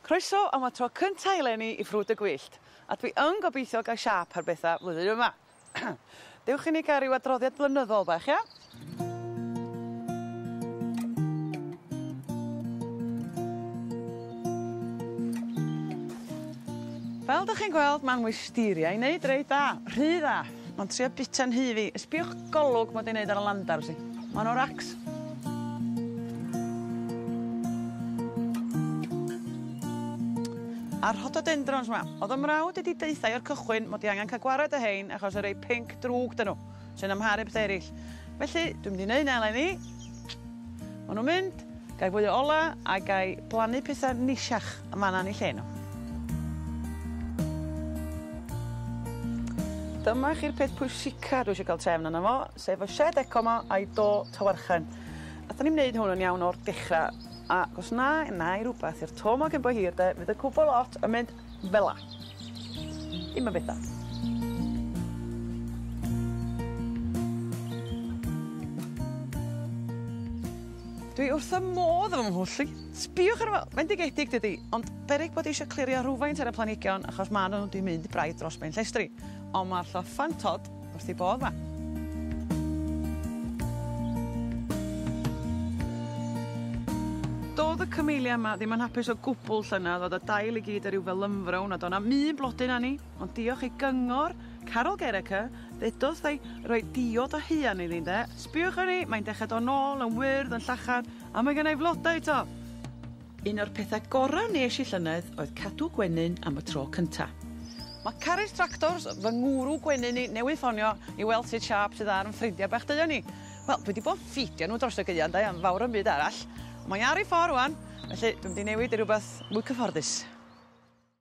Croeso am y tro cynta eleni i Ffrwd y Gwyllt, a dwi yn gobeithio gai siâp ar betha flwyddyn yma. Dewch i ni gael ryw adroddiad blynyddol bach, ia? Fel dych chi'n gweld, mae'n wisteria i wneud reit dda, rhy dda! Ma'n trio bita nhŷ fi. Sbiwch golwg mod i'n neud ar y landars i. Ma' nw'n racs. A rhododendrons 'ma. O'dd 'y mrawd i 'di deuthai o'r cychwyn mod i angan ca'l gwared â rhein achos y rei pinc drwg 'dyn nhw, sy'n amharu pethe erill. Felly, dwi mynd i neud 'na eleni. Maen nhw'n mynd, gai fwy o ola, a gai blannu petha neisiach yn fan'na yn eu lle nhw. Dyma chi'r peth pwysica dwi isio cael trefn arno fo, sef y shed eco 'ma a'i do tawarchen. Nathon ni'm neud hwn yn iawn o'r dechra, ac os na, 'nai rwbath i'r to 'ma cyn bo hir de, fydd y cwbwl lot yn mynd Fela. Dim yn betha. Dwi wrth fy modd efo fy mhwll i. Sbïwch arno fo! Mae'n digedig dydi? Ond beryg bod eisio clirio rhywfaint ar y planhigion achos ma' n'w 'di mynd braidd dros ben llestri. Ond ma'r llyffantod Wrth ei bodd ma. Do'dd y Camellia 'ma ddim yn hapus o gwbwl llynedd, o'dd y dail i gyd ar ryw felynfrown a do' 'na'm un blodyn arni, ond diolch i gyngor Carol Gereke, ddedodd wrthai roi diod o haearn iddi ynde, sbïwch arni, mae'n dechre do' nôl yn wyrdd, yn llachar, a mae gennai flodau 'to! Un o'r pethau gorau wnes i llynedd oedd cadw gwenyn am y tro cynta. Mae Carys Tractors, fy ngwrw gwenyn i, newydd ffonio i weld sut siâp sydd ar 'yn ffrindiau bach duon ni. Wel, dwi 'di bod yn ffidio nhw dros y gaeau, 'nde, am fawr o'm byd arall. Ond mae ar ei ffordd rwan, felly dwi'm 'di newid i rywbeth mwy cyfforddus.